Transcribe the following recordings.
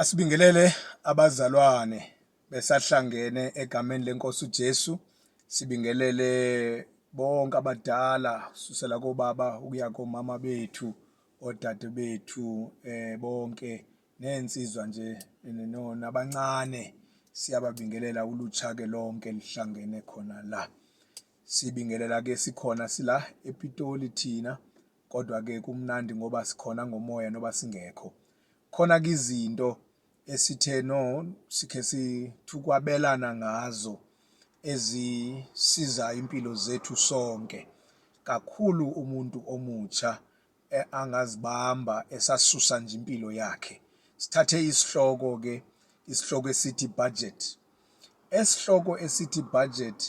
Asibingelele abazalwane besahlangene egameni lenkosi uJesu sibingelele bonke abadala susela kobaba ukuya komama bethu odade bethu eh bonke nensizwa nje nabancane siyababingelela ulutsha ke lonke lihlangene khona la sibingelela ke sikhona sila ePitoli thina Kodwa-ke kumnandi ngoba sikhona ngomoya noba singekho. Khona-ke izinto esithe no sikhe sithukwabelana ngazo ezisiza impilo zethu sonke kakhulu umuntu omutsha e, angazibamba esasusa nje impilo yakhe sithathe isihloko ke isihloko esithi budget Esihloko esithi budget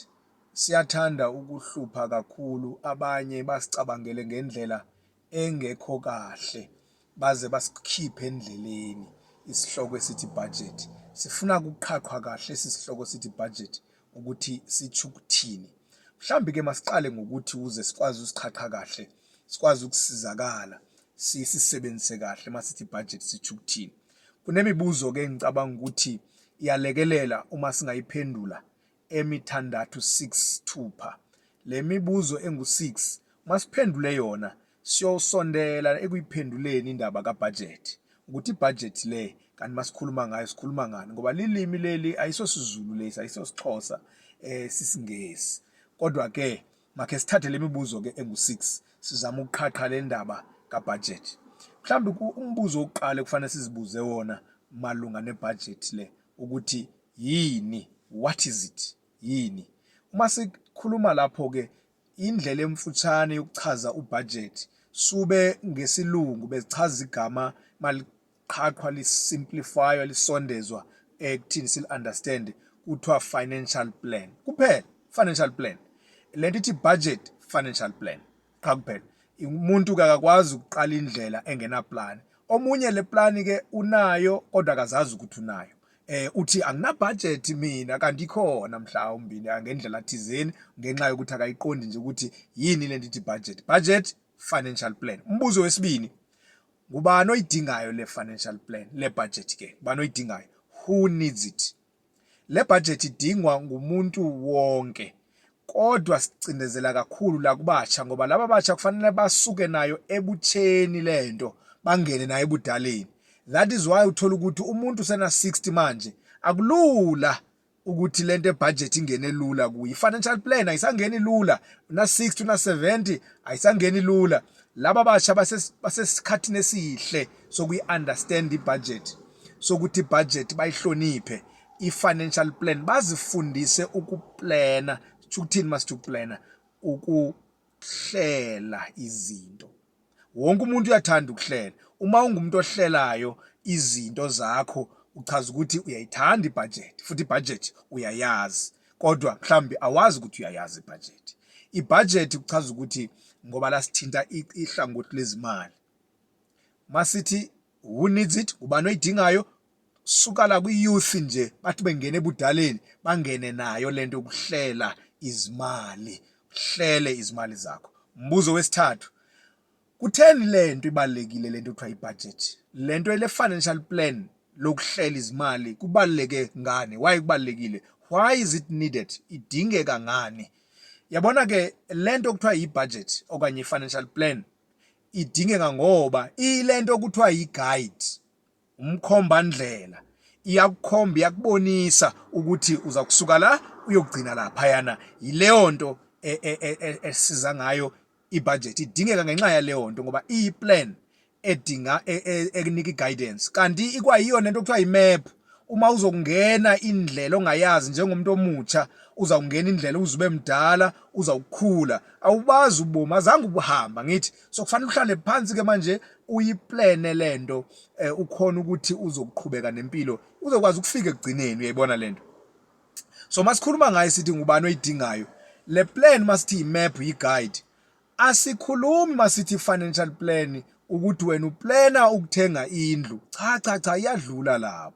siyathanda ukuhlupha kakhulu abanye basicabangele ngendlela engekho kahle baze basikhiphe endleleni isihloko esithi budget. Sifuna kuqhaqhwa kahle esi sihloko sithi budget ukuthi sitsho ukuthini. Mhlawumbe ke masiqale ngokuthi uze sikwazi usiqhaqha kahle, sikwazi ukusizakala sisisebenzise kahle masithi budget sitsho ukuthini. Kunemibuzo-ke engicabanga ukuthi iyalekelela uma singayiphendula emithandathu 6 thupha. Le mibuzo engu-6 uma siphendule yona siyosondela ekuyiphenduleni indaba kabhajethi ukuthi ibhajethi le kanti masikhuluma ngayo sikhuluma ngani ngoba lilimi leli ayisosizulu lesi ayisosixhosa eh sisingesi kodwa ke Makhe sithathe le mibuzo ke engu-6 sizama ukuqhaqha le ndaba kabhajethi. Mhlawumbe umbuzo wokuqala ekufanele sizibuze wona malunga nebhajethi le ukuthi yini, what is it, yini? Uma sikhuluma lapho ke indlela emfutshane yokuchaza ubhajethi sube ngesilungu bezichaza igama qhaqhwa li simplifywa lisondezwa ekuthini sil understand kuthiwa financial plan kuphela financial plan lento ithi budget financial plan qha kuphela umuntu kakakwazi ukuqala indlela engena plan omunye le plan ke unayo kodwa akazazi ukuthi unayo eh uthi angina budget mina kanti ikhona mhlawumbi ngendlela thizeni ngenxa yokuthi akayiqondi nje ukuthi yini lento ithi budget budget financial plan umbuzo wesibili Ngubani oyidingayo le financial plan, le budget ke? Ngubani oyidingayo? Who needs it? Le budget idingwa ngumuntu wonke. Kodwa sicindezela kakhulu la kubatsha ngoba laba batsha kufanele basuke nayo ebutsheni lento bangene nayo ebudaleni. That is why uthola ukuthi umuntu sena 60 manje akulula ukuthi lento ebudget ingene lula kuyi financial plan ayisangeni lula una 60 una 70 ayisangeni lula laba basha basesikhathini esihle sokuyi understand ibudget sokuthi budget bayihloniphe i financial plan bazifundise ukuplana ukuthini must uplana ukuhlela izinto wonke umuntu uyathanda ukuhlela uma ungumuntu ohlelayo izinto zakho uchaza ukuthi uyayithanda ibhajethi futhi ibhajethi uyayazi kodwa mhlawumbe awazi ukuthi uyayazi ibhajethi ibhajethi kuchaza ukuthi ngoba lasithinta ihlangothi lezimali masithi who needs it ubani oyidingayo sukala kwi-youth nje bathi bengena ebudaleni bangene nayo lento yokuhlela izimali uhlele izimali zakho mbuzo wesithathu kutheni lento ibalekile lento kuthiwa ibudget lento ele financial plan lokuhlela izimali kubaleke ngani why kubalekile why is it needed idingeka ngani yabona ke lento kuthiwa ibudget okanye i-financial plan idingeka ngoba ilento kuthiwa i-guide umkhombandlela iyakukhomba iyakubonisa ukuthi uza kusuka la uyokugcina laphayana yileyo nto e, e, e, esiza ngayo ibudget idingeka ngenxa yaleyo nto ngoba iyiplan edinga ekunika iguidance kanti ikwayiyona into okuthiwa imap uma uzokungena indlela ongayazi njengomuntu omutsha uzawungena indlela uzube mdala uzawukhula awubazi ubomi azange ubuhamba ngithi so kufanele uhlale phansi ke manje uyiplane lento eh, ukhona ukuthi uzokuqhubeka nempilo uzokwazi ukufika ekugcineni uyayibona lento so masikhuluma ngayo sithi ngubani oyidingayo le plan masithi map yi guide asikhulumi masithi financial plan ukuthi wena uplana ukuthenga indlu cha cha cha iyadlula lapho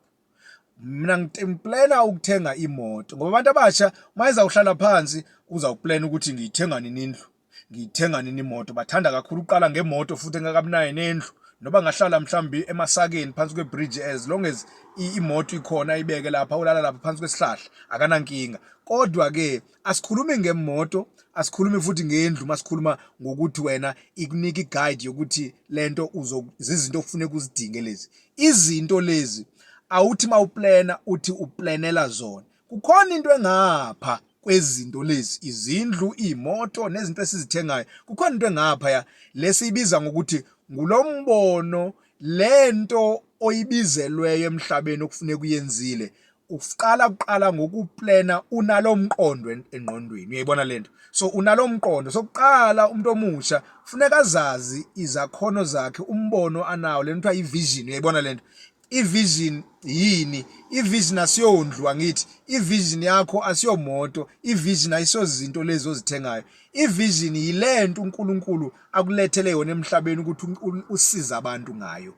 mina ngiplena ukuthenga imoto ngoba abantu abasha mayeza uhlala phansi uzawuplena ukuthi ngiyithenga nini indlu ngiyithenga nini imoto bathanda kakhulu uqala ngemoto futhi engakabunayo nendlu noba ngahlala mhlawumbi emasakeni phansi kwebridge as long as imoto ikhona ibeke lapha ulala lapha phansi kwesihlahla akanankinga kodwa ke asikhulumi ngemoto asikhulumi futhi ngendlu masikhuluma ngokuthi wena ikunika iguide yokuthi lento uzozizinto okufuneka uzidinge lezi izinto lezi awuthi mawuplana uthi uplanela zona kukhona into engapha kwezinto lezi izindlu imoto nezinto esizithengayo kukhona into engapha ya lesiyibiza ngokuthi ngulombono lento oyibizelweyo emhlabeni okufuneka uyenzile uqala kuqala ngokuplena unalo mqondo engqondweni uyayibona lento so unalo mqondo sokuqala umuntu omusha funeka azazi izakhono zakhe umbono anawo lento kuthiwa i-vision uyayibona lento i-vision yini i-vision asiyondlu angithi i-vision yakho asiyomoto i-vision ayisozinto lezi ozithengayo i-vision yilento uNkulunkulu akulethele yona emhlabeni ukuthi usize abantu ngayo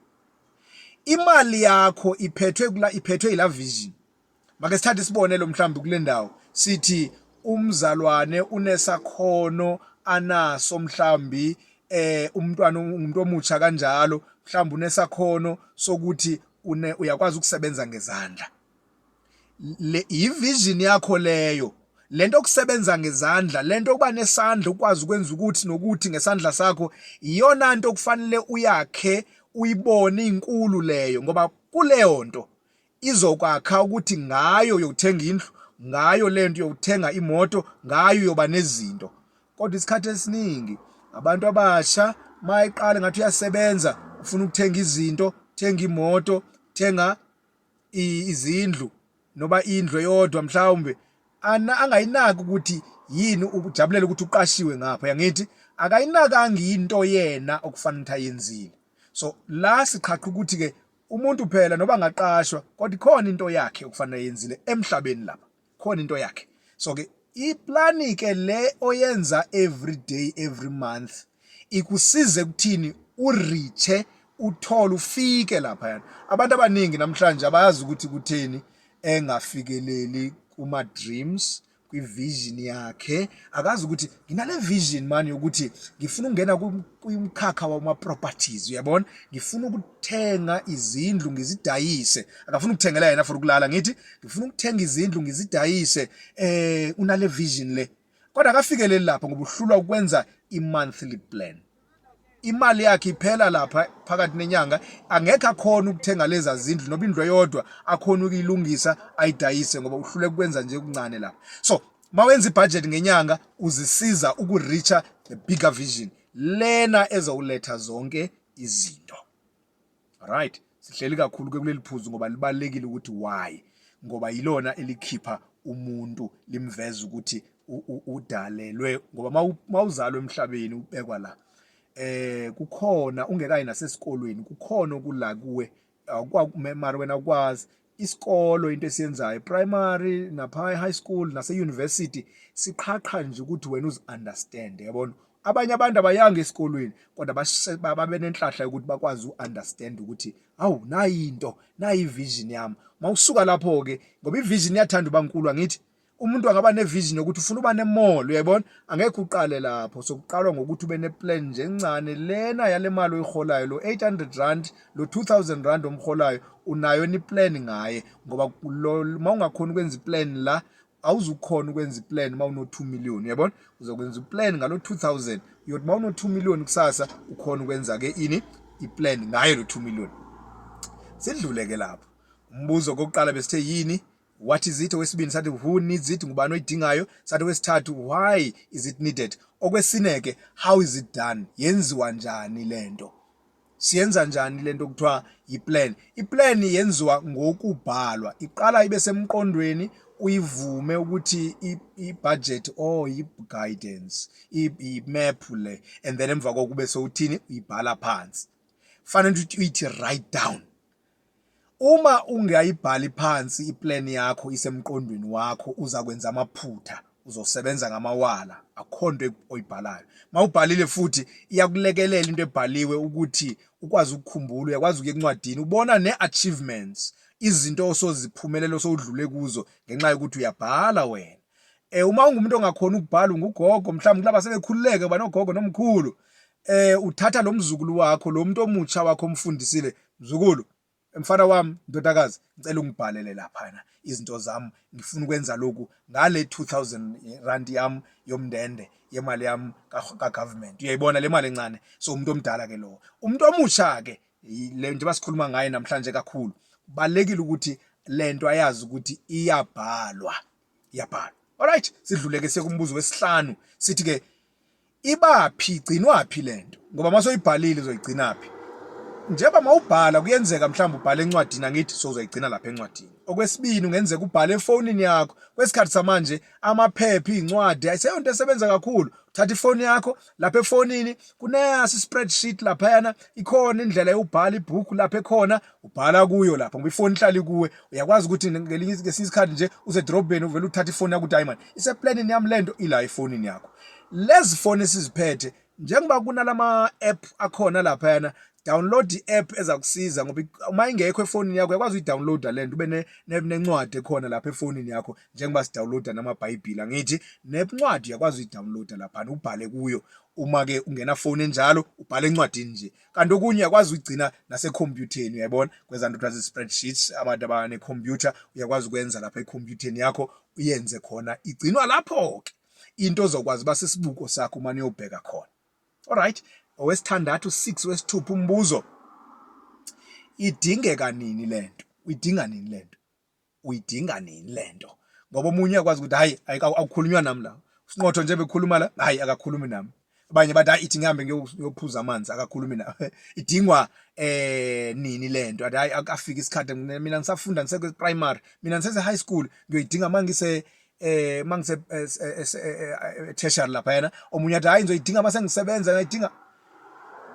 imali yakho iphethwe kula iphethwe ila vision make sithathe isibonelo mhlawumbe kule ndawo sithi umzalwane unesakhono anaso mhlawumbi eh umntwana umuntu omutsha kanjalo mhlawumbe unesakhono sokuthi une uyakwazi ukusebenza ngezandla le yivision yakho leyo lento okusebenza ngezandla lento okuba nesandla ukwazi ukwenza ukuthi nokuthi ngesandla sakho iyona nto okufanele uyakhe uyibone inkulu leyo ngoba kuleyo nto izokwakha ukuthi ngayo uyothenga indlu ngayo lento uyothenga imoto ngayo uyoba nezinto kodwa isikhathi esiningi abantu abasha mayiqale ngathi uyasebenza ufuna ukuthenga izinto thenga imoto thenga izindlu noba indlu eyodwa mhlawumbe angayinaki ukuthi yini ukujabulela ukuthi uqashiwe ngapha yangithi akayinakanga into yena okufanele ukuthi ayenzile so la siqhaqha ukuthi ke umuntu phela noba ngaqashwa kodwa ikhona into yakhe okufanele ayenzile emhlabeni lapha khona into yakhe so ke iplani ke le oyenza every day every month ikusize kuthini uriche uthole ufike lapha yana abantu abaningi namhlanje abayazi ukuthi kutheni engafikeleli kuma dreams kwivision yakhe akazi ukuthi nginale vision mani yokuthi ngifuna ukungena kumkhakha wama-properties uyabona ngifuna ukuthenga izindlu ngizidayise akafuna ukuthengela yena for ukulala ngithi ngifuna ukuthenga izindlu ngizidayise eh unale vision le kodwa akafikeleli lapho ngoba uhlulwa ukwenza i-monthly plan imali yakhe iphela lapha phakathi nenyanga angekho akhona ukuthenga leza zindlu noba indlu eyodwa akhona ukuyilungisa ayidayise ngoba uhlule kwenza nje kuncane lapha so mawenza ibudget ngenyanga uzisiza ukureacha the bigger vision lena ezowuletha zonke izinto right sihleli kakhulu ke kuleli phuzu ngoba libalekile ukuthi why ngoba yilona elikhipha umuntu limveza ukuthi udalelwe ngoba mawuzalwa emhlabeni ubekwa la eh kukhona ungekayi nasesikolweni kukhona okula kuwe mara wena ukwazi isikolo into esiyenzayo primary napha high school nase university siqhaqha nje ukuthi wena uzi understand yabona abanye abantu abayanga esikolweni kodwa babe nenhlahla yokuthi bakwazi u-understand ukuthi awu nayinto nayi vision yami mawusuka lapho ke ngoba ivision iyathanda uba nkulu angithi umuntu angaba nevision yokuthi ufuna uba nemall uyayibona angekho uqale lapho sokuqalwa ngokuthi ube neplan nje encane lena yale mali oyiholayo lo 800 rand lo 2000 rand omholayo unayo ni plan ngaye ngoba uma ungakhona ukwenza iplan la awuzukhona ukwenza iplan uma uno 2 million uyabona uzokwenza iplan ngalo 2000 uyothi uma uno 2 million kusasa ukhona ukwenza ke ini iplan ngayo lo 2 million sidlule ke lapho umbuzo kokuqala besithe yini what is it owesibini sathi who needs it ngubani oyidingayo sathi wesithathu why is it needed okwesine ke how is it done yenziwa njani lento siyenza njani lento kuthiwa yiplan iplan yenziwa ngokubhalwa iqala ibe semqondweni uyivume ukuthi ibudget or i-guidance i-map le and then emva kokube sewuthini uyibhala phansi fanele ukuthi uyithi write down Uma ungayibhali phansi i-plan yakho isemqondweni wakho uzakwenza amaphutha, uzosebenza ngamawala akukho nto oyibhalayo. Uma ubhalile futhi iyakulekelela into ebhaliwe ukuthi ukwazi ukukhumbula, uyakwazi ukuya encwadini ubona ne-achievements, izinto osoziphumelela osowudlule kuzo ngenxa yokuthi uyabhala wena. Um, uma ungumuntu ongakhoni ukubhala ungugogo mhlawumbe kulaba sebekhululeke banogogo nomkhulu eh uthatha lo mzukulu wakho lo muntu omutsha wakho omfundisile mzukulu mfana wami ndodakazi ngicela ungibhalele laphana izinto zami ngifuna ukwenza lokhu ngale 2000 rand yami yomndende yemali yami ka government uyayibona le mali encane so umuntu omdala ke lowo umuntu omusha ke le njengoba sikhuluma ngaye namhlanje kakhulu balekile ukuthi lento ayazi ukuthi iyabhalwa iyabhalwa alright sidluleke sekumbuzo wesihlanu sithi ke ibaphi igcinwaphi lento ngoba mase uyibhalile uzoyigcinaphi njengoba mawubhala kuyenzeka mhlawumbe ubhale encwadini angithi sozoyigcina lapha encwadini okwesibini ungenzeka ubhale efonini yakho kwesikhathi samanje amaphepha izincwadi ayiseyonto esebenza kakhulu thatha ifoni yakho lapha efonini kuneyasi spreadsheet lapha yana ikhona indlela yobhala ibhuku lapha ekhona ubhala kuyo lapho ngoba ifoni ihlala ikuwe uyakwazi ukuthi ngelinye ngesinye isikhathi nje usedrobheni uvele uthathe ifoni yakho udiamond iseplanini yami lento ila efonini yakho lezi foni esiziphethe njengoba kunalama app akhona lapha yana download i-app ezakusiza ngoba uma ingekho efonini yakho uyakwazi uyidownloada le nto ube nencwadi ekhona lapha efonini yakho njengoba sidownloada namabhayibhili angithi nencwadi uyakwazi uyidownloada laphana ubhale kuyo uma-ke ungenafoni enjalo ubhale encwadini nje kanti okunye uyakwazi ukugcina nasekhompyutheni uyayibona kwenza nto kuthiwa spreadsheet abantu abane computer uyakwazi ukwenza lapha ekhompyutheni yakho uyenze khona igcinwa lapho ke into ozokwazi uba sisibuko sakho uma niyobheka khona alright owesithandathu 6 wesithupha umbuzo idingeka nini lento uyidinga nini lento uyidinga nini lento ngoba omunye uyakwazi ukuthi hayi awukhulunywa nami la usinqotho nje bekhuluma la hayi akakhulumi nami abanye bathi hayi ithi ngihambe ngiyophuza amanzi akakhulumi na idingwa eh nini lento athi hayi akafika isikhathi mina ngisafunda ngiseke primary mina ngisese high school ngiyoyidinga mangise eh mangise eh, eh, eh, tertiary lapha yena omunye athi hayi ngizoyidinga mase ngisebenza ngayidinga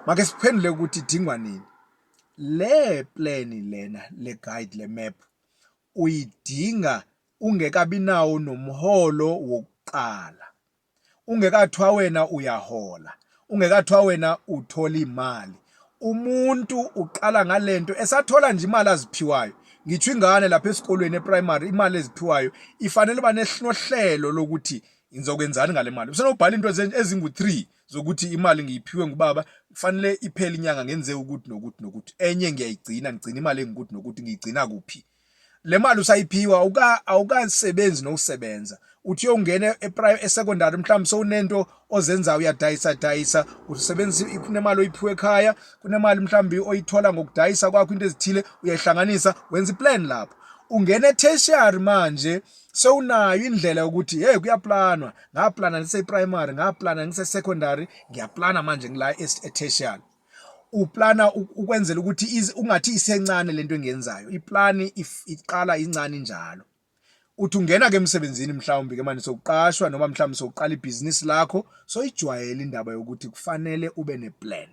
make siphendule ukuthi idingwa nini Le plan lena le guide le map uyidinga ungekabi nawo nomholo wokuqala. Ungekathiwa wena uyahola, ungekathiwa wena uthola imali. Umuntu uqala ngalento esathola nje imali aziphiwayo. Ngithiwa ingane lapha esikolweni eprimary imali eziphiwayo ifanele uba nohlelo lokuthi ngizokwenzani ngale mali. Usenobhala into ezingu-3 zokuthi imali ngiyiphiwe ngubaba kufanele iphele inyanga ngenze ukuthi nokuthi nokuthi enye ngiyayigcina ngigcina imali engikuthi nokuthi ngiyigcina kuphi le mali usayiphiwa awuka awukasebenzi nokusebenza uthi uyongena e-secondary mhlawumbe sowunento ozenzayo uyadayisa dayisa usebenzisa kunemali oyiphiwe ekhaya kunemali mhlawumbe oyithola ngokudayisa kwakho into ezithile uyayihlanganisa wenza iplan lapho ungena e-tertiary manje sewunayo indlela yokuthi hey kuyaplanwa ngaplana ngise primary ngaplana ngise secondary ngiyaplana manje ngila e-tertiary uplana ukwenzela ukuthi ungathi isencane lento engiyenzayo iplani iqala incane njalo uthi ungena ke emsebenzini mhlawumbi ke manje sokuqashwa noma mhlawumbi sokuqala ibhizinisi lakho soyijwayela indaba yokuthi kufanele ube neplan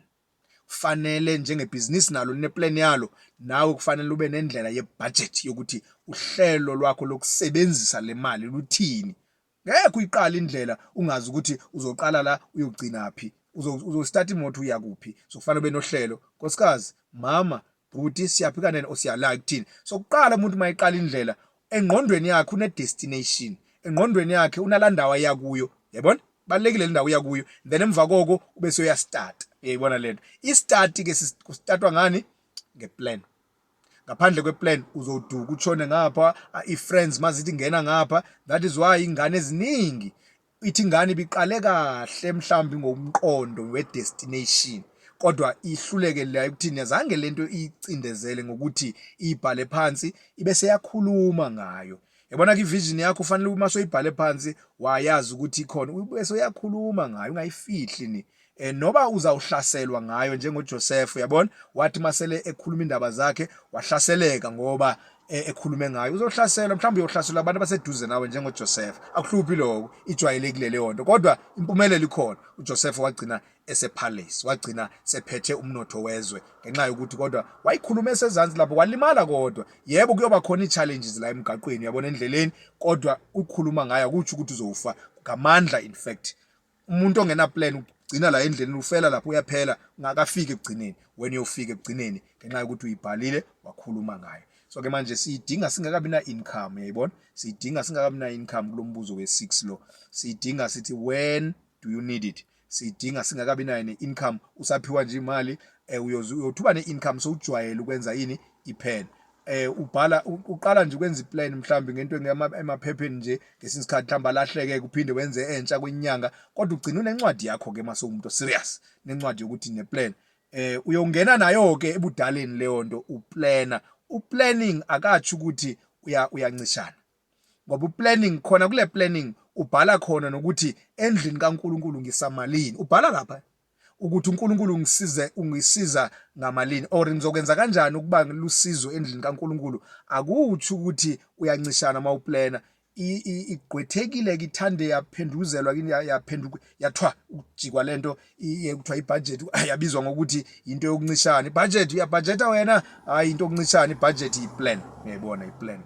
kufanele njengebhizinisi nalo lineplan yalo nawe kufanele ube nendlela yebudget yokuthi uhlelo lwakho lokusebenzisa le mali luthini ngeke uyiqala indlela ungazi ukuthi uzoqala la uyogcina phi uzostart imoto uya kuphi so kufanele ube nohlelo nkosikazi mama bhuti siyaphika nene or siyalaya kuthini so kuqala umuntu uma eqala indlela engqondweni yakhe une-destination engqondweni yakhe unala ndawo aya kuyo yabona balekile lendawo uya kuyo then emva koko ube soyastart uyayibona lento istart ke kustartwa ngani ngeplan ngaphandle kweplan uzoduka utshone ngapha i-friends mazithi ngena ngapha that is why ingane eziningi ithi ingane ibiqale kahle mhlawumbe ngomqondo wedestination kodwa ihluleke la ekuthini azange lento icindezele ngokuthi ibhale phansi ibe seyakhuluma ngayo yabona ke vision yakho ufanele uma soyibhale phansi wayazi ukuthi ikhona ubese uyakhuluma ngayo ungayifihli ni eh noba uzawuhlaselwa ngayo njengoJoseph uyabona wathi masele ekhuluma indaba zakhe wahlaseleka ngoba eh, ekhulume ngayo uzohlaselwa mhlawumbe uyohlaselwa abantu abaseduze nawe njengoJoseph akuhluphi lokho ijwayelekile leyo nto kodwa impumelelo ikhona uJoseph wagcina esepalace wagcina sephethe umnotho wezwe ngenxa yokuthi kodwa wayikhuluma esezansi lapho walimala kodwa yebo kuyoba khona ii-challenges la emgaqweni uyabona endleleni kodwa ukhuluma ngayo akutsho ukuthi uzowufa ngamandla in fact umuntu ongena plan ugcina la endleleni ufela lapho uyaphela ngakafiki ekugcineni wena uyofika ekugcineni ngenxa yokuthi uyibhalile wakhuluma ngayo so ke manje siyidinga singakabi na income yayibona siyidinga singakabi na income kulombuzo we6 lo siyidinga sithi when do you need it siyidinga singakabi nayo ne income usaphiwa nje imali eh, uyothuba ne income sowujwayele ukwenza yini iphela eh ubhala uqala nje ukwenza iplan mhlawumbe ngento emaphepheni nje ngesinye isikhathi mhlawumbe alahleke kuphinde wenze entsha kwenyanga kodwa ugcina unencwadi yakho ke mase umuntu serious nencwadi yokuthi neplan eh uyongena nayo ke ebudaleni leyo nto uplana uplanning akatsho ukuthi uya uyancishana ngoba uplanning khona kule planning ubhala khona nokuthi endlini kaNkuluNkulu ngisamalini ubhala lapha ukuthi uNkulunkulu ungisize ungisiza ngamalini or ngizokwenza kanjani ukuba ngilusizo endlini kaNkulunkulu akuthi ukuthi uyancishana mawuplana igqwethekile kithande yaphenduzelwa kini yaphenduka yathwa ukujikwa lento ekuthiwa ibudget yabizwa ngokuthi into yokuncishana ibudget uyabudgeta wena hayi into yokuncishana ibudget iplan ngiyayibona iplan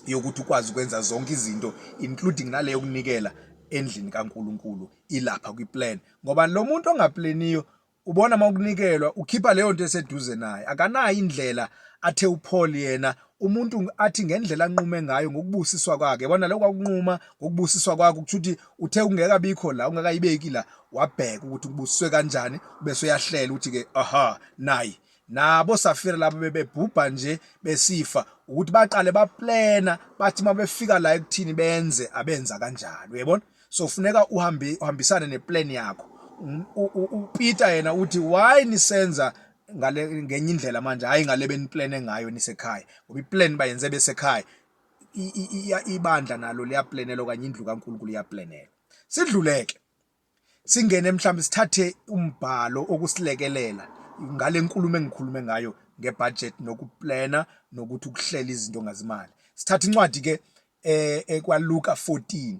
yokuthi ukwazi ukwenza zonke izinto including naleyo kunikela endlini kaNkuluNkulu ilapha kwi-plan ngoba lo muntu ongapleniyo ubona uma ukunikelwa ukhipha leyo nto eseduze naye akanayo indlela athe uPaul yena umuntu athi ngendlela anqume ngayo ngokubusiswa kwakhe yabona lokho akunquma ngokubusiswa kwakho ukuthi uthi uthe ungeka bikho la ungakayibeki la wabheka ukuthi ubusiswe kanjani bese uyahlela ukuthi ke aha nayi nabo safira labo bebebhubha nje besifa ukuthi baqale baplena bathi mabefika la ekuthini benze abenza kanjalo uyabona so funeka uhambe uhambisane neplan yakho uPeter yena uthi why nisenza ngale ngenye indlela manje hayi ngale beniplane ngayo nisekhaya ngoba iplan bayenze besekhaya ibandla nalo liyaplanela okanye indlu kaNkulunkulu iyaplanela sidluleke singene mhlawumbe sithathe umbhalo okusilekelela ngale nkulumo engikhulume ngayo ngebudget nokuplana nokuthi ukuhlela izinto ngazimali sithatha incwadi ke eh, eh kwaLuka 14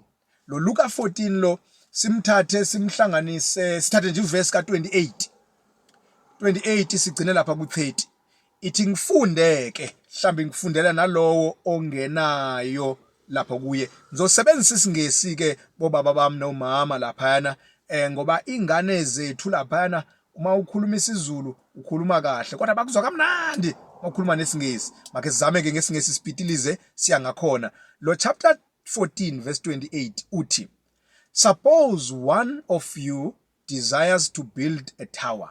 lo Luka 14 lo simthathe simhlanganise sithathe nje ivesi ka28 28 sigcine lapha ku30 ithi ngifunde-ke mhlawumbe ngifundela nalowo ongenayo lapho kuye ngizosebenzisa isingesi-ke bobaba bami nomama laphayana um ngoba iy'ngane zethu laphayana uma ukhuluma isizulu ukhuluma kahle kodwa bakuzwa kamnandi uma ukhuluma nesingesi makhe sizame-ke ngesingesi sipitilize siya ngakhona lo chapter 14 verse 28 uthi suppose one of you desires to build a tower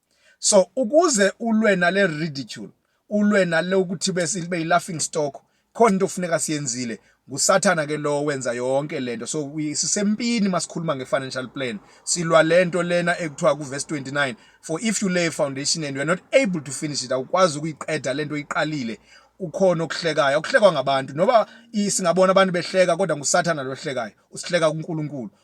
so ukuze ulwe nale ridicule ulwe nale ukuthi bese ibe laughing stock khona into okufuneka siyenzile ngusathana ke lo wenza yonke lento so sisempini masikhuluma ngefinancial plan silwa lento lena ekuthiwa ku verse 29 for if you lay a foundation and you are not able to finish it awukwazi ukuyiqeda lento iqalile ukhona okuhlekayo okuhlekwa ngabantu noba singabona abantu behleka kodwa ngusathana lohlekayo usihleka kuNkulunkulu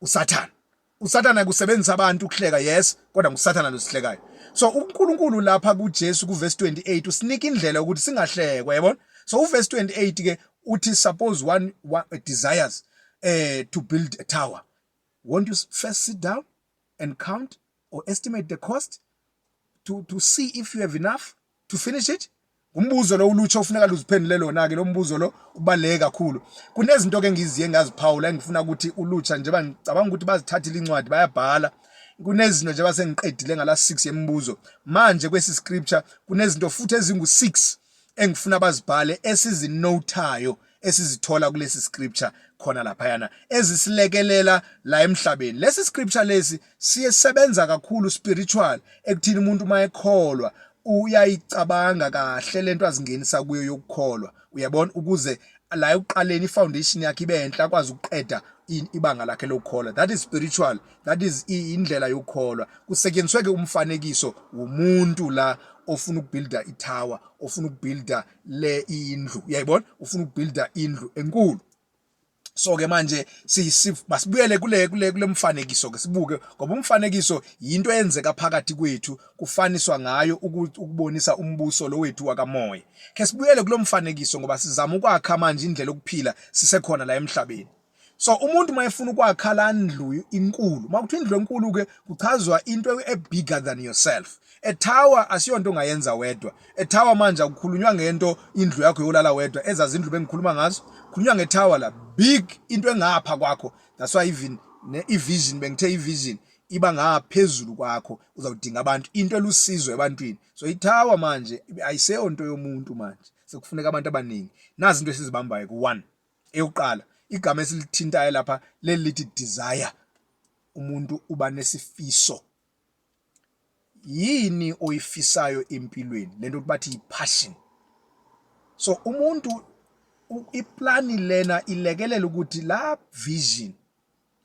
usathana usathana kusebenzisa abantu ukuhleka yes kodwa ngusathana losihlekayo so uNkulunkulu lapha kuJesu kuverse 28 usinika indlela ukuthi singahlekwa yabona so uverse 28 ke uthi suppose one, one uh, desires uh, to build a tower won't you first sit down and count or estimate the cost to, to see if you have enough to finish it umbuzo lo ulutsha ofuneka luziphendule lona ke lo mbuzo lo ubaleke kakhulu kunezinto ke ngiziye ngaziphawula engifuna ukuthi ulutsha njengoba ngicabanga ukuthi bazithathile incwadi bayabhala kunezinto njengoba sengiqedile ngala 6 yemibuzo manje kwesi scripture kunezinto futhi ezingu 6 engifuna bazibhale esizinothayo esizithola kulesi scripture khona laphayana ezisilekelela la emhlabeni lesi scripture lesi siyesebenza kakhulu spiritual ekuthini umuntu uma ekholwa uyayicabanga kahle lento azingenisa kuyo yokukholwa uyabona ukuze la ekuqaleni ifoundation yakhe ibe enhla akwazi ukuqeda ibanga lakhe lokukholwa that is spiritual that is indlela yokukholwa kusetyenziswe ke umfanekiso womuntu la ofuna ukubuilda itower ofuna ukubuilda le indlu uyayibona ufuna ukubuilda indlu enkulu so ke manje masibuyele kule kule kulemfanekiso ke sibuke ngoba umfanekiso yinto eyenzeka phakathi kwethu kufaniswa ngayo ukubonisa umbuso lo wethu wakamoya ke sibuyele kulomfanekiso ngoba sizama ukwakha manje indlela okuphila sisekhona la emhlabeni so umuntu uma efuna ukwakha la ndlu inkulu uma kuthiwa indlu enkulu ke kuchazwa into ebigger than yourself a tower asiyonto ongayenza wedwa a tower manje akukhulunywa ngento indlu yakho yolala wedwa ezazi indlu bengikhuluma ngazo khulunywa nge tower la big into engapha kwakho that's why even ne vision bengithe i vision iba ngaphezulu kwakho uzawudinga abantu into elusizo ebantwini so ithawa manje ayiseyonto yomuntu manje sekufuneka abantu abaningi nazi into esizibambayo ku-one Eyokuqala igama esilithintayo lapha leli lithi desire. Umuntu uba nesifiso. Yini oyifisayo empilweni? Lento bathi i-passion. So umuntu iplani lena ilekelela ukuthi la vision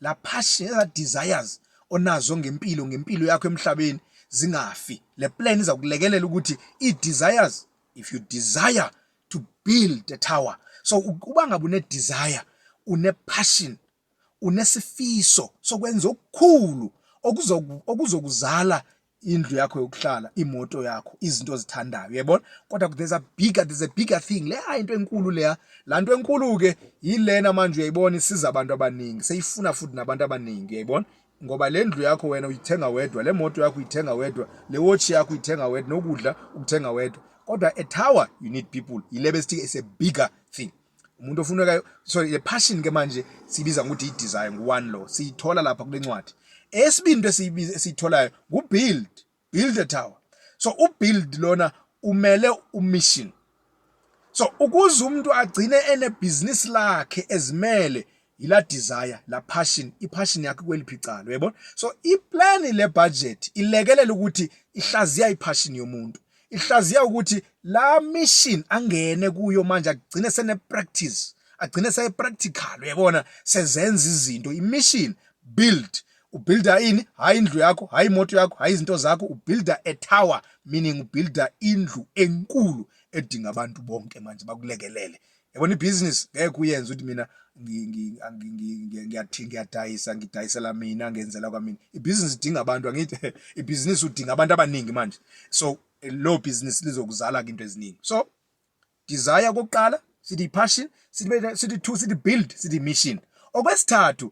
la passion eza desires onazo ngempilo ngempilo yakho emhlabeni zingafi le plan iza kulekelela ukuthi i desires if you desire to build a tower so uba ngabe une desire une passion unesifiso sokwenza okukhulu okuzokuzala indlu yakho yokuhlala imoto yakho izinto ozithandayo uyabona kodwa there's a bigger there's a bigger thing le hayi into enkulu leya la nto enkulu ke yilena manje uyayibona isiza abantu abaningi seyifuna futhi nabantu abaningi uyayibona ngoba le ndlu yakho wena uyithenga wedwa le moto yakho uyithenga wedwa le watch yakho uyithenga wedwa nokudla ukuthenga wedwa kodwa a tower you need people yilebe sithi is a bigger thing umuntu ofunekayo so le passion ke manje sibiza ngokuthi i-desire ngu-one lo siyithola lapha kule ncwadi esibini into esiyitholayo ngu-build build a tower so u-build lona umele u-mission so ukuze umuntu agcine enebhizinisi lakhe ezimele yila desire la passion ipassion yakhe kweliphi icala uyayibona so iplan le budget ilekelela ukuthi ihlaziya ipassion yomuntu ihlaziya ukuthi la mission angene kuyo manje agcine sene practice agcine seye practical uyabona sezenza izinto imission build ubuilda ini hayi indlu yakho hayi imoto yakho hayi izinto zakho ubuilda a tower meaning ubuilda indlu enkulu edinga abantu bonke manje bakulekelele yabona ibhizinisi ngeke uyenze ukuthi mina ngiyathi ngiyadayisa ngidayisela mina ngenzela kwamina ibhizinisi idinga abantu angithi ibhizinisi udinga abantu abaningi manje so lo bhizinisi lizokuzala into eziningi so desire kokuqala sithi passion sithi two sithi build sithi mission okwesithathu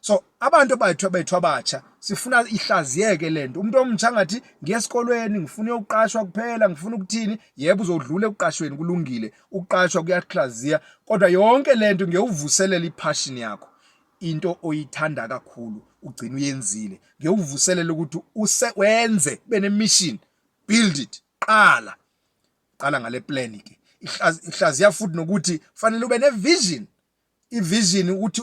so abantu abayithu abayithu abatsha sifuna ihlaziyeke lento umuntu omtsha ngathi ngiye esikolweni ngifuna ukuqashwa kuphela ngifuna ukuthini yebo uzodlula ekuqashweni kulungile ukuqashwa kuyahlaziya kodwa yonke lento ngiyewuvuselela ipassion yakho into oyithanda kakhulu ugcina uyenzile ngiyewuvuselela ukuthi use wenze benemission build it qala qala ngale plan ke ihlaziya futhi nokuthi fanele ube ne vision ivision ukuthi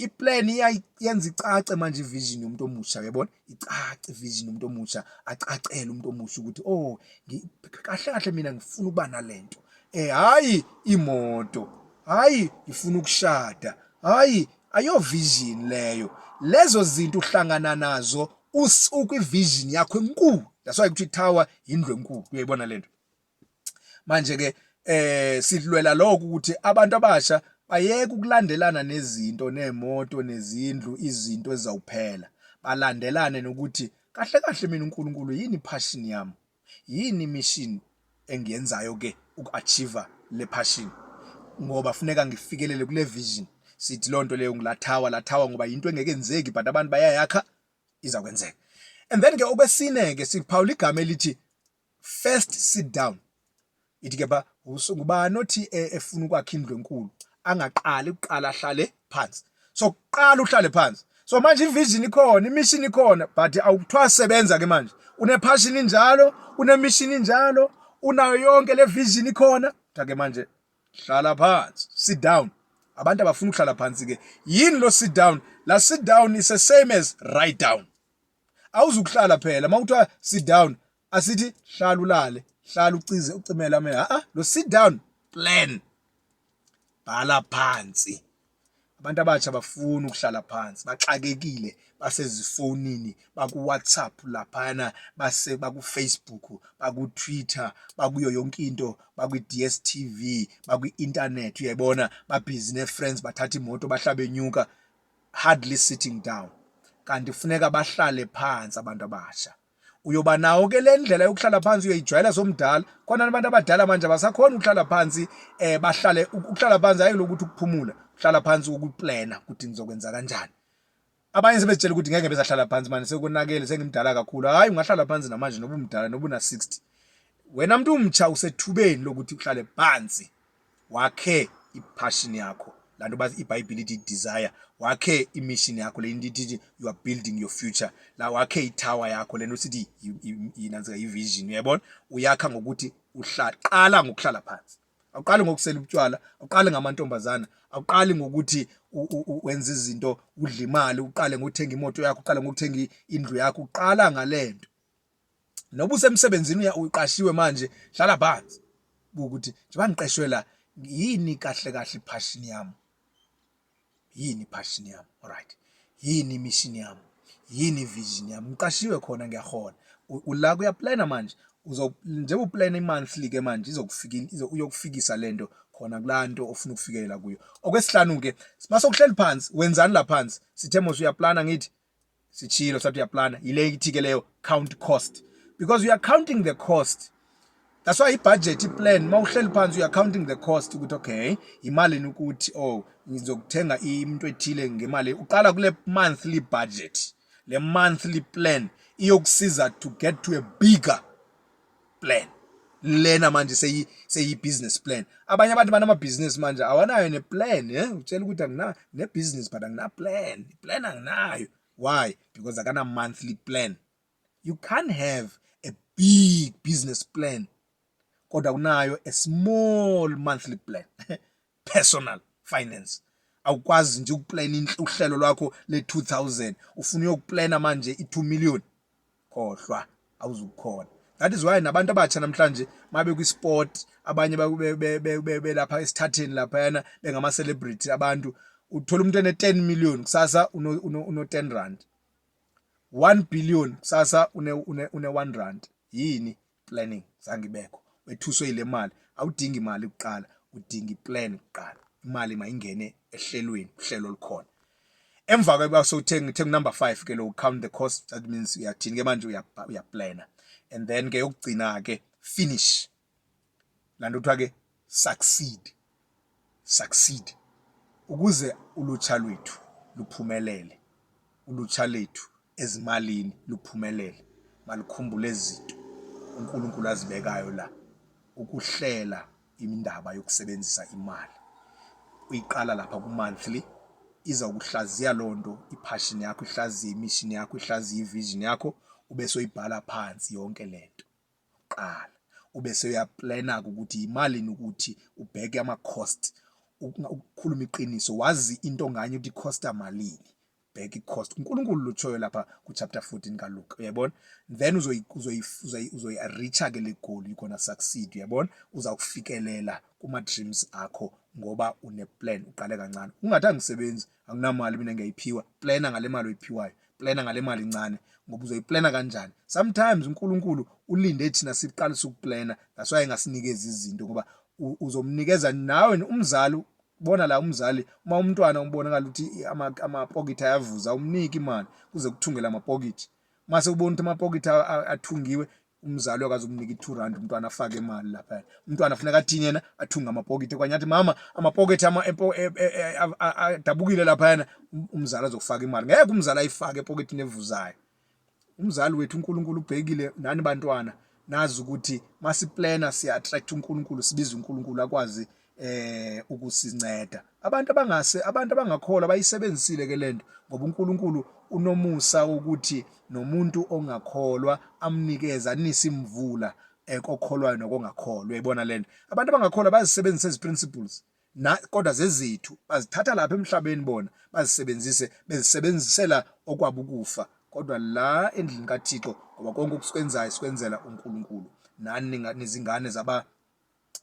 iplan iyenza icace manje ivision yomuntu omusha uyabona icace ivision yomuntu omusha acacele umuntu omusha ukuthi oh kahle kahle mina ngifuna ukuba nalento eh hayi imoto hayi ngifuna ukushada hayi ayo vision leyo lezo zinto uhlangana nazo usuku ivision yakho enkulu that's why kuthi tower indlu enkulu uyayibona lento manje ke eh sidlwela lokho ukuthi abantu abasha bayeke ukulandelana nezinto nemoto nezindlu izinto ezizawuphela balandelane nokuthi kahle kahle mina uNkulunkulu yini passion yami yini mission engiyenzayo ke ukuachieve le passion ngoba funeka ngifikelele kule vision sithi lonto leyo ngilathawa lathawa ngoba into engeke enzeki but abantu bayayakha izakwenzeka and then ke okwesine ke siphawula igama elithi first sit down ithi ke ba ngubani othi e, efuna ukwakha indlu enkulu angaqali kuqala ahlale phansi so kuqala uhlale phansi so manje ivision ikhona imission ikhona but awukuthiwa sebenza ke manje unepassion injalo unemission injalo unayo yonke le vision ikhona take manje hlala phansi sit down abantu abafuna ukuhlala phansi ke yini lo sit down la sit down is the same as write down awuzukuhlala phela mawuthiwa sit down asithi hlala ulale hlala ucize ucimele amehlo a lo sit down plan bhala phansi abantu abatsha bafuna ukuhlala phansi baxakekile basezifonini bakuWhatsApp laphana base bakuFacebook bakuTwitter bakuyo yonke into bakwiDStv bakuinternet uyayibona babhizi neFriends bathatha imoto bahlabe nyuka hardly sitting down kanti kufuneka bahlale phansi abantu abasha uyoba nawo ke le ndlela yokuhlala phansi uyoyijwayela somdala khona abantu abadala manje abasakhona ukuhlala phansi eh bahlale ukuhlala phansi hayi lokuthi ukuphumula uhlala phansi ukuplana ukuthi ngizokwenza kanjani abanye sebezitshela ukuthi ngeke bezahlala phansi manje sekonakele sengimdala kakhulu hayi ungahlala phansi namanje noba umdala noba una 60 wena mntu umtsha usethubeni lokuthi uhlale phansi wakhe i-passion yakho la nto bathi ibhayibhile ithi desire wakhe i-mission yakho le nto ithi you are building your future la wakhe i-tower yakho le nto sithi yinantsika yi-vision uyayibona uyakha ngokuthi uhlala qala ngokuhlala phansi awuqali ngokusela ubutywala awuqali ngamantombazana awuqali ngokuthi wenza izinto udle imali uqale ngokuthenga imoto yakho uqale ngokuthenga indlu yakho uqala ngalento noba usemsebenzini uqashiwe manje hlala phansi ukuthi njengoba ngiqeshwe la yini kahle kahle iphashini yami yini iphashini yami alright yini imishini yami yini ivision yami ngiqashiwe khona ngiyahona ula kuyaplana manje uzo njengoba uplana imonthly ke manje izokufikisa uyokufikisa lento khona kulanto ofuna ukufikelela kuyo okwesihlanu ke mase ukuhleli phansi wenzani la phansi sithe mos uyaplana ngithi sitshilo sathi uyaplana yile ithike leyo count cost because you are counting the cost that's why ibudget iplan uma uhleli phansi you are counting the cost ukuthi okay imali ukuthi oh ngizokuthenga into ethile ngemali uqala kule monthly budget le monthly plan iyokusiza to get to a bigger plan lena manje seyi seyi business plan abanye abantu banama business manje awanayo ne plan eh utshela ukuthi angina ne business but angina plan plan anginayo why because akana monthly plan you can't have a big business plan kodwa kunayo a small monthly plan personal finance awukwazi nje ukuplana uhlelo lwakho le-2000 ufuna uyokuplana manje i-2 million khohlwa awuzukukhona that is why nabantu abatsha namhlanje mabe kwi-sport abanye belapha esithatheni laphayana bengama-celebrity abantu uthola umuntu ene-10 million kusasa uno-10 rand 1 billion kusasa une-1 rand yini planning zange ibekho wethuswe yile mali awudingi imali kuqala udinga iplan kuqala imali mayingene ehlelweni uhlelo olukhona emva kweba sowuthenga ithenga number 5 ke lo count the cost that means uyathini ke manje uyaplana and then ke yokugcina ke finish lanto kuthiwa ke succeed succeed ukuze ulutsha lwethu luphumelele ulutsha lethu ezimalini luphumelele malikhumbule izinto uNkulunkulu azibekayo la ukuhlela indaba yokusebenzisa imali uyiqala lapha ku monthly iza kuhlaziya lonto ipassion yakho ihlaziye imission yakho ihlaziye ivision yakho ube soyibhala phansi yonke lento kuqala ube seyaplana-ke ukuthi yimalini ukuthi ubheke ama-cost ukukhuluma iqiniso wazi into nganye ukuthi costa malini bheka i-cost uNkulunkulu lutshoyo lapha ku-chapter 14 kaLuka uyabona then uzoyi-reacha-ke le goal you're gonna succeed uyabona uzakufikelela kuma-dreams akho ngoba une-plan uqale kancane ungathi angisebenzi anginamali mina ngiyayiphiwa plana ngale mali oyiphiwayo plana ngale mali incane ngoba uzoyiplana kanjani sometimes uNkulunkulu ulinde thina siqalise ukuplana that's why engasinikezi izinto ngoba uzomnikeza nawe umzali bona la umzali uma umntwana umbonakala ukuthi amapokithi ayavuza umnike imali kuze kuthungele amapokithi mase ubona ukuthi amapokithi athungiwe umzali okaze umnike i-two rand umntwana afake imali lapha umntwana funeka athini yena athunge amapokiti kwanye athi mama amapokiti e, e, e, adabukile laphayana um, umzali azokufaka imali ngeke umzali ayifake epoketini evuzayo umzali wethu unkulunkulu ubhekile nani bantwana nazi ukuthi masiplena siya-attract unkulunkulu sibiza unkulunkulu akwazi eh ukusinceda abantu abangase abantu abangakholwa bayisebenzisile ke lento ngoba uNkulunkulu unomusa ukuthi nomuntu ongakholwa amnikeza anise imvula eh, kokholwayo nokongakholwa uyayibona lento abantu abangakholwa bazisebenzisa ezi principles na kodwa zezithu bazithatha lapha emhlabeni bona bazisebenzise bezisebenzisela okwabukufa kodwa la endlini kaThixo ngoba konke okusikwenzayo sikwenzela uNkulunkulu nani nezingane zaba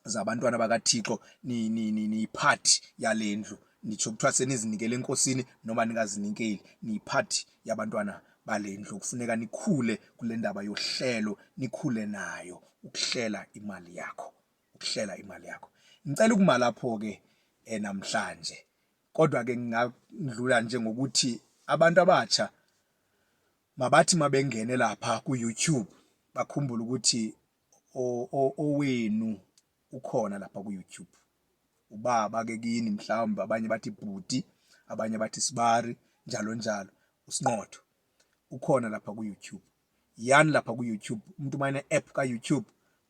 zabantwana bakaThixo niyiphathi yale ndlu nitsho kuthiwa senizinikele enkosini noma ningazinikeli niyiphathi yabantwana bale ndlu kufuneka nikhule kule ndaba yohlelo nikhule nayo ukuhlela imali yakho ukuhlela imali yakho ngicela ukuma lapho-ke eh, namhlanje kodwa-ke ngingadlula nje ngokuthi abantu abatsha mabathi mabengene lapha ku-youtube bakhumbule ukuthi owenu ukhona lapha ku-youtube ubaba ke kini mhlawumbe abanye bathi bhuti abanye bathi sibari njalo njalo usinqotho ukhona lapha ku-youtube yani lapha ku-youtube umuntu uma ene-app ka-youtube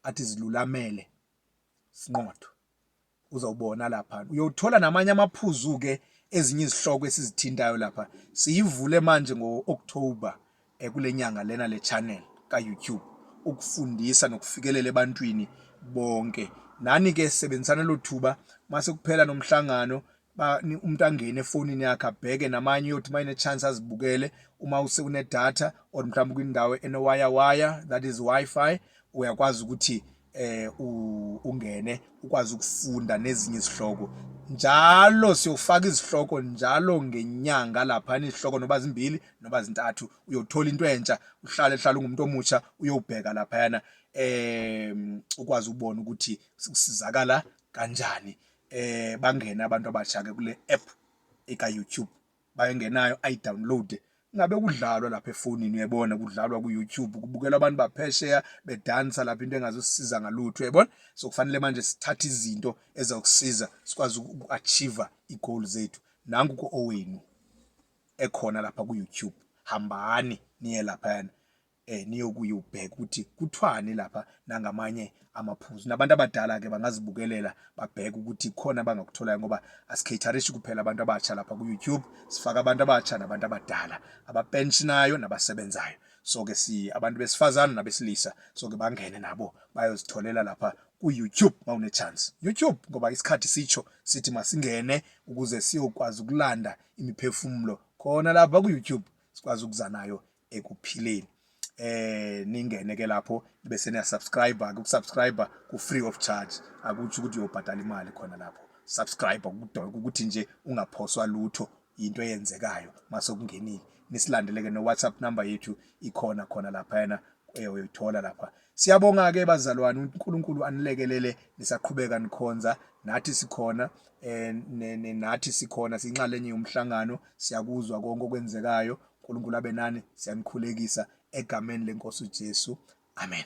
athi zilulamele sinqotho uzawubona lapha uyothola namanye amaphuzu-ke ezinye izihloko esizithintayo lapha siyivule manje ngo-october um kule nyanga lena le channel ka-youtube ukufundisa nokufikelela ebantwini bonke nani-ke sebenzisana lo thuba mase kuphela nomhlangano umuntu angene efonini yakhe abheke namanye uyothi uma ine-chance azibukele uma usekunedata or mhlawumbe kwindawo enowayawaya that is wi-fi uyakwazi ukuthi eh ungene ukwazi ukufunda nezinye izihloko njalo siyofaka izihloko njalo ngenyanga lapha izihloko noba zimbili noba zintathu uyothola into entsha uhlale hlala ungumuntu omutsha uyobheka lapha yana em ukwazi ubona ukuthi kusizakala kanjani eh bangene abantu abasha ke kule app eka YouTube bayengenayo ayi download ngabe kudlalwa lapha efonini uyabona kudlalwa ku YouTube kubukela abantu baphesheya bedansa lapha into engazosisiza ngalutho uyabona so kufanele manje sithathe izinto ezokusiza sikwazi ukuachieve igoal zethu nangu ku owenu ekhona lapha ku YouTube hambani niye lapha yana eh niyokuye ubheke ukuthi kuthwani lapha nangamanye amaphuzu nabantu abadala ke bangazibukelela babheke ukuthi khona abangakutholayo ngoba asikhatharishi kuphela abantu abatsha lapha ku YouTube sifaka abantu abatsha nabantu abadala abapensionayo nabasebenzayo so ke si abantu besifazana nabesilisa so ke bangene nabo bayozitholela lapha ku YouTube mawune chance YouTube ngoba isikhathi sitsho sithi masingene ukuze siyokwazi ukulanda imiphefumulo khona lapha ku YouTube sikwazi ukuzanayo ekuphileni eh ningene ke lapho bese niya subscribe ke ukusubscribe ku free of charge akuthi ukuthi uyobhadala imali khona lapho subscribe kudonke ukuthi nje ungaphoswa lutho into eyenzekayo mase kungenile nisilandeleke no WhatsApp number yethu ikhona khona lapha yena eh, uyithola lapha siyabonga ke bazalwane uNkulunkulu anilekelele nisaqhubeka nikhonza nathi sikhona eh nathi sikhona sinxalenye yomhlangano siyakuzwa konke okwenzekayo uNkulunkulu abe nani siyanikhulekisa egameni lenkosi uJesu amen